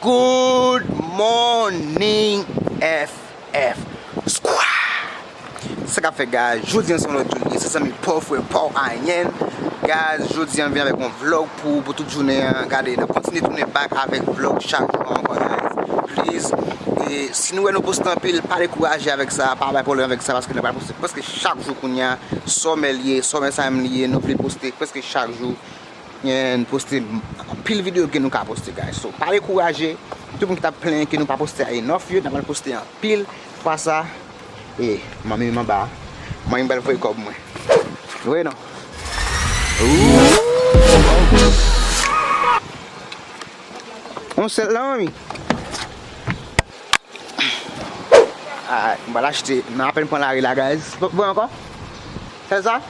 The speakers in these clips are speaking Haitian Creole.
Good morning FF squad! Sa kap fèt guys, jodi an se yon lòt jou li ye se zanmi paw frè paw anyen Guys jodi an m vin avèk yon vlog pou ou pou tout jounen an Gade nap kontinye tounen back avèk vlog chak jou an ankò guys Please e si nou wè nou poste anpil pa dekouraje avèk sa pa bay pwoblèm avèk sa paske nou pral poste prèske chak jou kounya Sòmè li ye, sòmè sa menm li ye nou vle poste prèske chak jou N poste anpil video ke nou ka poste guys so pa dekouraje tout moun ki tap plenyen ke nou pa poste a enough yo n apral poste anpil fwa sa e manmi menm anba a manmi pral voye kòb mwen nou wè non ooh on sèl la manmi alright m pral achte nan apèn pran lari la guys voye ankò sèl sa.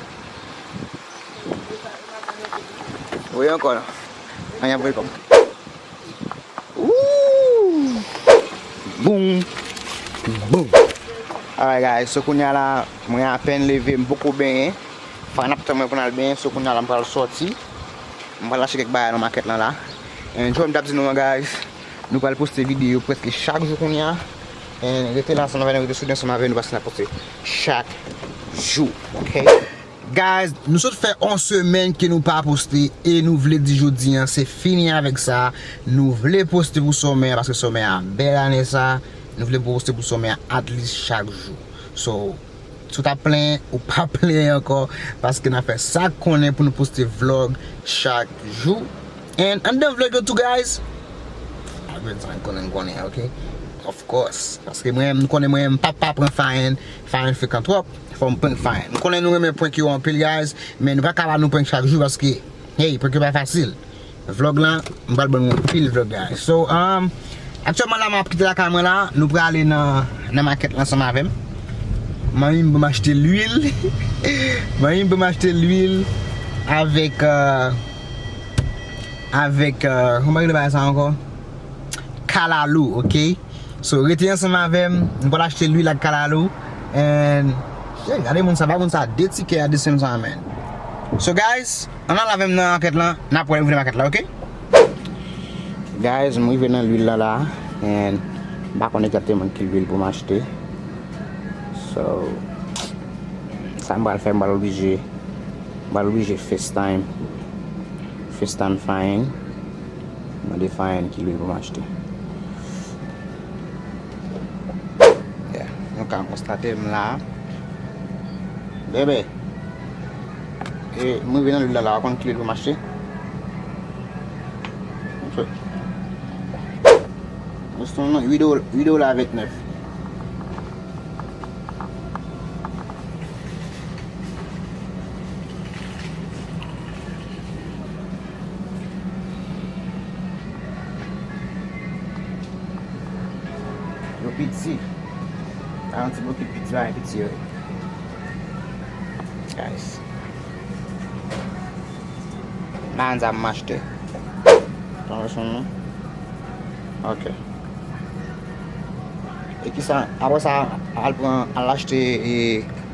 Voye ankò nan. An yap voye kòb. Boom! Boom! Alright guys, so kounya la mwen apèn leve, m poko benyen. Fwa nap tann mwen pou n al benyen, so kounya la m pral sòti. M pral achte kèk bagay nan makèt lan la. And jan m tap di nou an guys, nou pral poste videyo prèske chak jou kounya. And rete la ansanm avè nou, rete soude ansanm avè nou paske nap poste chak jou, ok? Guys nou sot fè on semèn ke nou pa poste e nou vle di jodi an se fini avèk sa nou vle poste pou sòmè a paske sòmè a bèl ane sa nou vle poste pou sòmè a at least chak jou so si w tap plenyen ou pa plenyen ankò paske nap fè sak konnen pou nou poste vlog chak jou and anndan vlog yo tou guys of course paske mwen m konnen mwen m pap pa pran fayen Fhaen frekan trop fòm prank Fhaen. M konnen nou renmen prank yo anpil guys men nou paka ba nou prank chak jou paske hey prank yo pa fasil vlog lan m pral bannou anpil vlog guys so umm aktyèlman la map kite lakay mwen la nou prale nan makèt la ansanm avèm manmi m banm achte lwil manmi m banm achte lwil avèk avèk kòman yo rele bagay sa ankò kalalou ok. So rete ansanm avèm, nou pral achte lwil ak kalalou and Hey gade moun sa, ba moun sa 2 tikè a 2 cents an man So guys, ann al avèm nan market lan, nap wè lè m rive nan market la ok. Guys m rive nan lwil lan la and m pa konn exactement ki lwil pou m achte So sa m pral fè m pral oblije m pral oblije FaceTime FaceTime Fahim. Mande Fayenne ki lwil pou m achte. Yeah, nou ka konstate m la. Bebe! E, m rive nan lwil la la, ou konn ki lwil pou m achte? Mwen se nan 8 dola, 8 dola 29. Yo piti. A yon ti bokit piti bagay piti yo ye. Guys. Bagay sa m achte. Tan wè son nou. Ok. E ki sa, apre sa al pran al achte e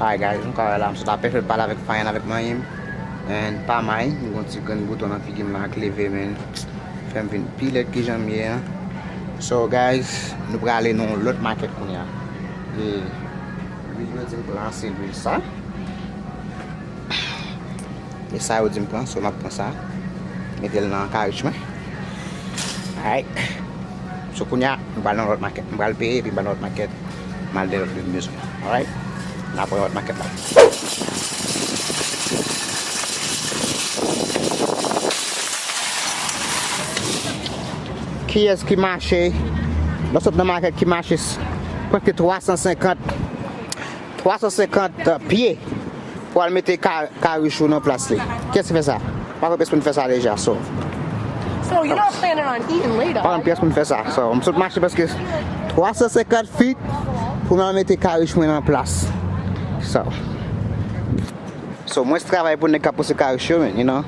Alright guys nou ka wè la m sot apèn fèk pale avèk Fayan avèk manyen m and pa may m gon ti grenn bouton nan figi m la ak leve men l fèm vin pi lèd kijan m ye an So guys nou prale nan yon lòt makèt kounya e lwil yo di m pou lanse lwil sa. E sa yo dim pran so map pran sa Metel nan karich mwen Alright So kounya m pral nan lòt makèt M pral peye epi m pral nan lòt makèt Mal de lòt lèm bezwen Alright Nan pran lòt makèt la Kiyès ki mache Lò sot nan makèt ki mache Pran ke 350 350 pye pou al mete karichou nan plas li. Kiyès ki fè sa? Mwen pa kwè pyès moun fè sa deja so. Pa kwè pyès moun fè sa so. M sot mache preske 350 feet pou m al mete karich mwen nan plas. So mwens travay pou nèg k ap pouse karich yo men you know.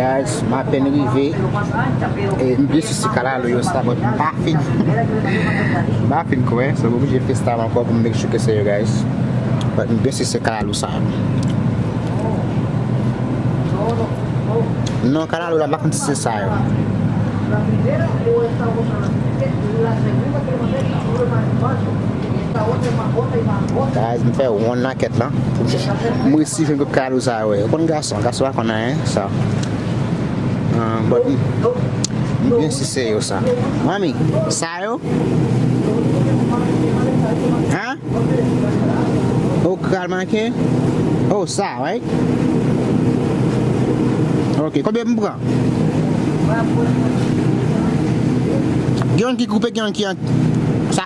Guys m apèn rive m vle sou si kalalou yo sa but m pa fin m pa fin kwè so m oblije fè style ankò pou m make sure ke se yo guys but m byen si se kalalou sa non kalalou la m pa konn si se sa yo Guys m fè wonn nan kèt lan M resi jwenn tout kado sa yo Yo konn gason, gason pa konn anyen sa But m byen si se yo sa Manmi, sa yo? Huh? Oh kral manke? Oh sa right? Ok, konbyen m pran? Gen youn ki koupe gen youn ki an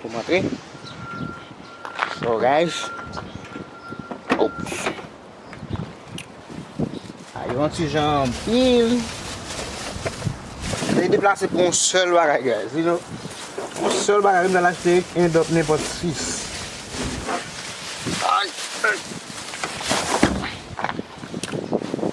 Pou montre. Foraj. Ops. A yon ti jan anpil. Mwen deplase pou yon sèl bagay guys. You know. Yon sèl bagay mwen al achte en dòp nenpòt 6. Ay. Ay.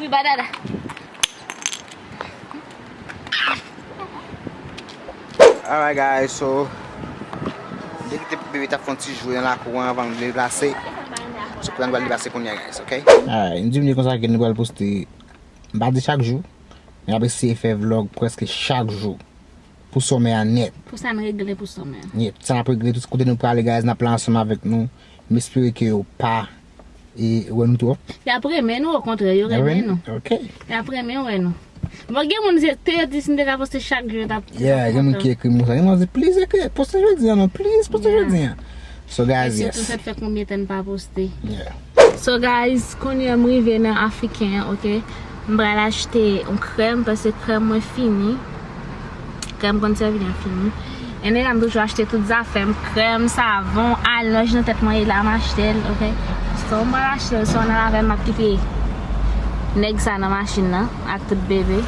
Ui banana. Alright guys, so Mwen te kite bebe ta fon ti jwe nan lakou an avan m vle deplase So pran dwa deplase kounya guys ok. Alright m di m di konsa ke nou pral poste m pa di chak jou men ap eseye fè vlog preske chak jou pou summer an nèt. Pou sa n regle pou summer an. Yep, sa n ap regle, tout kote nou prale guys n ap la ansanm avèk nou m espere ke ou pa. e wè nou twòp. Yap renmen nou okontrè yo renmen nou. Ok. Yap renmen wè nou. Bon gen moun se te yo di si nou te ka poste chak jou yo tap kontan. Yeah gen moun ki ekri m konsa. Gen moun ap di please ekri poste jodi an non please poste jodi an. So guys yes. E sitou sa fè konbyen tan n pa poste. Yeah. So guys kounyè m rive nan afriken an ok. M pral achte yon krèm paske krèm mwen fini krèm konn sèvi lèm fini anyway m toujou achte tout zafèm krèm savon alonj nan tèt mwen ye la m achtel ok so m pral achtel so nan avèm map kite nèg sa nan machin nan ak tout bebe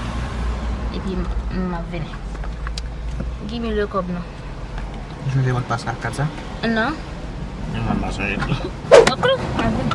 epi m ap vini gimme le kob nou ou sonje mot pas la ak kat sa nan menm mwen m pa sonje tou ok m ap vini.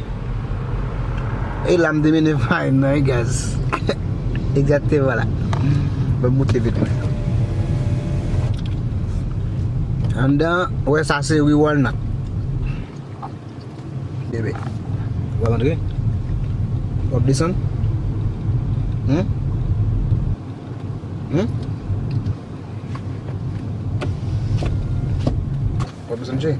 E la m demene farine nan wi guys Exactement la Banm moute vit mwen Anndan an ou wè sa se riz walnut Bebe Ou ap antre? Ou ap desann? Hum? Hum? Ou ap desann cheri?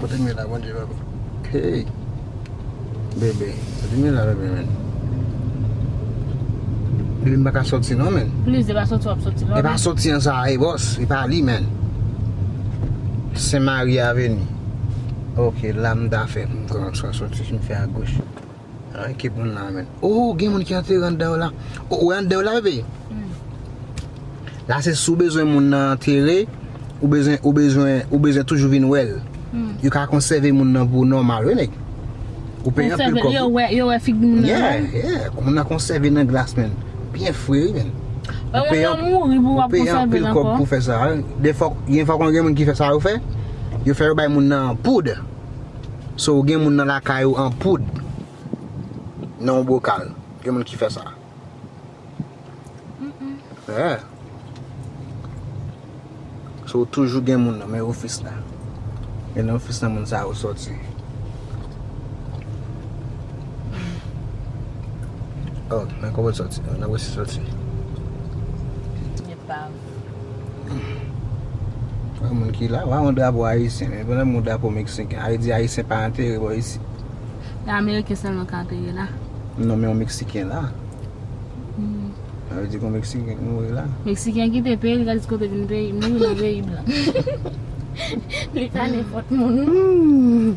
Kote m ye la bondye papa. Hey bebe kote m ye la bebe men. Bebe m pa ka soti non men. Please e pa soti w ap soti la. E pa soti an sa a e bos e pa li men. Sen mari aveni. Ok la m ta fè m ta soti m fè a goch. An ki moun la menm. Oh gen moun ki antere andan yo la. Oh ou wè andan yo la bebe? Wi. La se si ou bezwen moun nan antere, ou bezwen, ou bezwen, ou bezwen toujou vin wè l. Yo ka konsève moun nan pou ou nòmal wi nèg. Ou peye anpil kòb. Yo wè, yo wè figi moun nan nòmal? Yeah, yeah. Kou moun nan konsève nan glas menm. Byen fre wi menm. Ou peye anpil kòb. Ou moun nan mouri pou wap konsève l ankò? Ou peye anpil kòb pou fè sa. Dè fwa, gen fwa konn gen moun ki fè sa yo fè, yo fè yo bay moun nan poud. So ou gen moun nan lakay ou an poud nan yon bokal. Gen moun ki fè sa. Yeah. So ou toujou gen moun nan men ofis la. E nan ofis la moun sa yo soti. Oh, nan kote soti. Nan kote soti. Epav. Yon moun ki la, wè yon drapo ayisyen, men pwennèt moun drapo meksiken, a vle di ayisyen pa antere bò isi. Yon ameriken sèlman ka antere la. Non men yon meksiken la. A vle di yon meksiken ki mouri la. Meksiken kite peyi li ka di kote vin peyi, mouri nan peyi blan. Li pa nenpòt moun.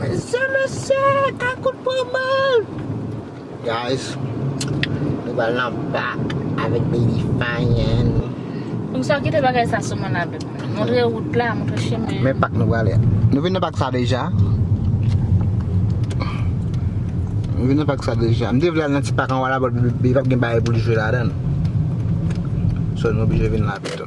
Mesye mesye kakout pran bal. Guys Nou pral nan bak avèk baby fine. Moun sa kite bagay sa sou mwen avèk mwen. Montre wout la, montre chemen an. Men pak nou prale a. Nou vin nan pak sa deja. Nou vin nan pak sa deja. M te vle al nan ti pak anwa la but baby pap gen bagay pou l jwe ladan l. So nou oblije vin la pito.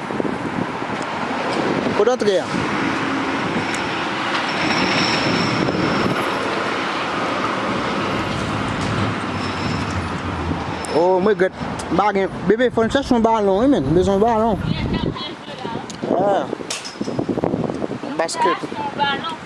Kot antre an? Oh m regrèt m pa gen Bebe fò n chèche yon balon wi menn m bezwen yon balon Yon basket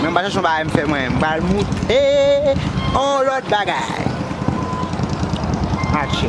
Mwen pa chèche yon bagay m fè mwen, m pral moute yon lòt bagay. Atche.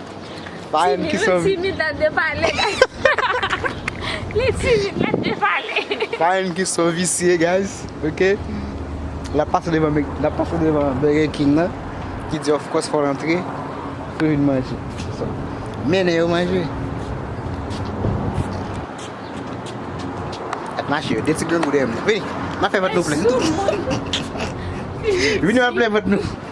Parenn ki sanvi. Timi li timid lap de pale guys. Li timid lap de pale. Parenn ki son visye guys ok. Nap pase devan mc nap pase devan burger king nan ki di of course fol antre pou vin manje. Mennen yo manje. Ap mache yo 2 ti grangou dèyè mwen. Vini. Map fè vant nou plen. Vini map fè vant nou.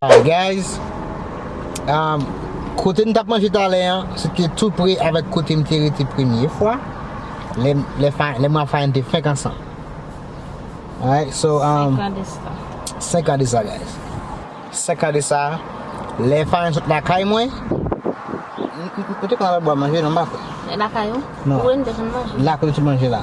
Hi guys um Kote nou tap manje talè an se te tou pre avèk kote m te rete premye fwa lè m lè Fha lè mwen ak Fhaen te fenk ansanm alright so um 5 an de sa 5 an de sa guys 5 an de sa lè Fhaen sot lakay mwen m te konn al bwa manje non m pa kwè lakay ou? non ou e nou te konn manje? la kote nou te manje la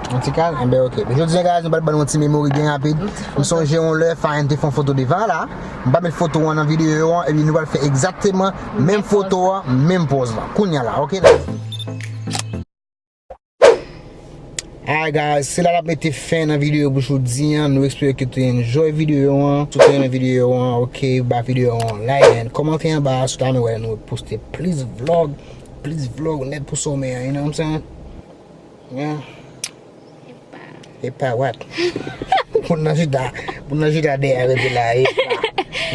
Yon ti kal? Enben ok. Jodi an guys nou pral ban nou yon ti memory byen rapid. M sonje yon lè Fhaen te fè yon foto devan la. M pa met foto an nan videyo an epi nou pral fè egzakteman menm foto an, menm pòz lan. Kounya la ok guys. Alright guys, se la n ap mete fen nan videyo pou jodi an. Nou espere ke w te enjoy videyo an. Si w te renmen videyo an ok, ba videyo an yon like and kòmante anba si w ta renmen wè nou poste plis vlog, plis vlog nèt pou somè an, you know what I'm saying? Epa wat Moun nan jida Moun nan jida de a rete la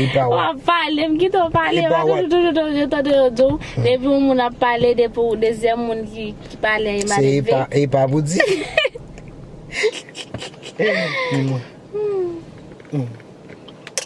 Epa wat Wap pale m kite w pale Epa wat Mwen toujou toujou toujou tande yo di w Depi yon moun ap pale Depi w dezyèm moun ki pale Epa li ve Se epa pou di Epa Epa